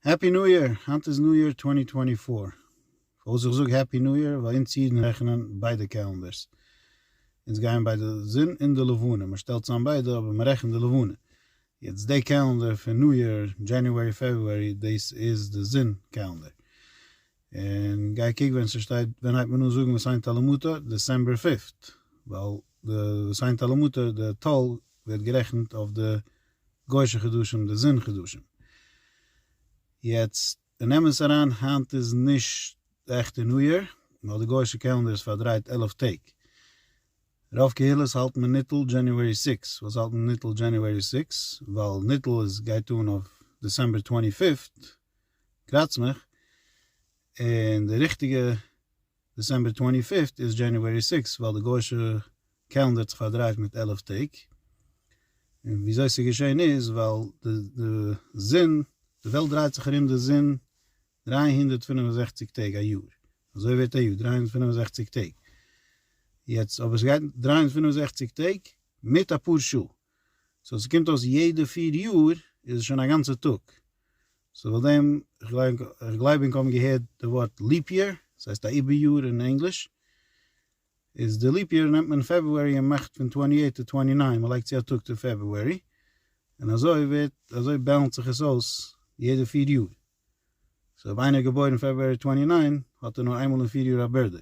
העפי ניו יאר! היינט איז ניו יאר טווענטי טווענטי פאר. פארוואס איך זאג העפי ניו יאר? ווייל אונז אידן רעכענען ביידע קעלענדערס. אונז גייען ביי די זון און די לבנה. מען שטעלט צאם ביידע אבער מען רעכנט די לבנה. יעצט די קעלענדער פון ניו יאר, דזשעניוערי פעברוארי, דאס איז די זון קעלענדער. און גיי קוק ווען ס'שטייט ווען הייבט מען אן זאגן וסיין טל ומטר, דעסעמבער פיפט, ווייל די וסיין טל ומטר די טל ווערט גערעכנט אויף די גוישע חדשים די זון חדשים. יעצט נעם עס אריין היינט איז נישט די עכטע ניו יאר, ווייל די גוישע קעלענדער איז פארדרייט עלף טעג. רוב קהילות האלטן ניטל דזשעניוערי סיקס, וואס האלט מען ניטל דזשעניוערי סיקס? ווייל ניטל איז גייט אן אויף דעסעמבער טווענטי פיפט. קראץ מיך, און די ריכטיגע דעסעמבער טווענטי פיפט איז דזשעניוערי סיקס ווייל די גוישע קעלענדער האט זיך פארדרייט מיט עלף טעג, און וויאזוי ס'איז געשען איז ווייל די זון, די וועלט דרייט זיך ארום די זון דרײַ הונדערט פֿינף און זעכציק טעג א יאר, אזוי ווערט א יאר דרײַ הונדערט פֿינף און זעכציק טעג, יעצט אבער ס'גייט דרײַ הונדערט פֿינף און זעכציק טעג מיט אפאר שעה, סאו ס'קומט אויס יעדע פֿיר יאר איז עס שוין א גאנצע טאג. סאו פאר דעם, איך גלייב ענק האבן געהערט די ווארט ליפ יער, עס הייסט א איבער יאר אין ענגליש, איז די ליפ יער נעמט מען פעברארי און מאכט פון טווענטי עיט טו טווענטי ניין, מען לייגט צו א טאג טו פעברארי, און אזוי ווערט, אזוי בעלנס זיך עס אויס יעדע פיר יאר, סאו אויב איינער איז געבוירן פעברארי טווענטי ניין, האט ער נאר איינמאל אין פיר יאר א בירדעי,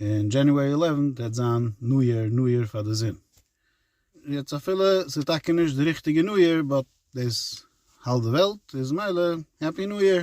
און דזשעניוערי עלעווען גייט זיין ניו יער ניו יער פאר די זון. יעצט אפילו ס'איז טאקע נישט די ריכטיגע ניו יער באט דאס האלט די וועלט איז מילא העפי ניו יער.